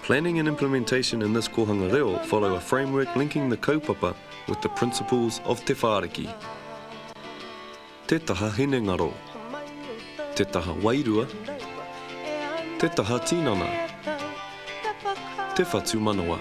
Planning and implementation in this kōhanga reo follow a framework linking the kaupapa with the principles of Te Whāriki. Te taha hinengaro. Te taha wairua. Te taha tinana. Te whatumanawa.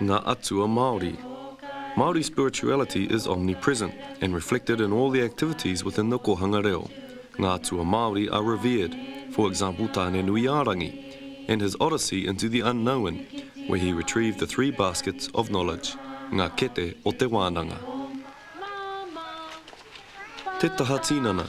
Ngā Atua Māori Māori spirituality is omnipresent and reflected in all the activities within the kōhanga reo. Ngā atua Māori are revered, for example Tāne-nui-ā-rangi and his odyssey into the unknown where he retrieved the three baskets of knowledge, ngā kete o te wānanga. Te Taha Tinana.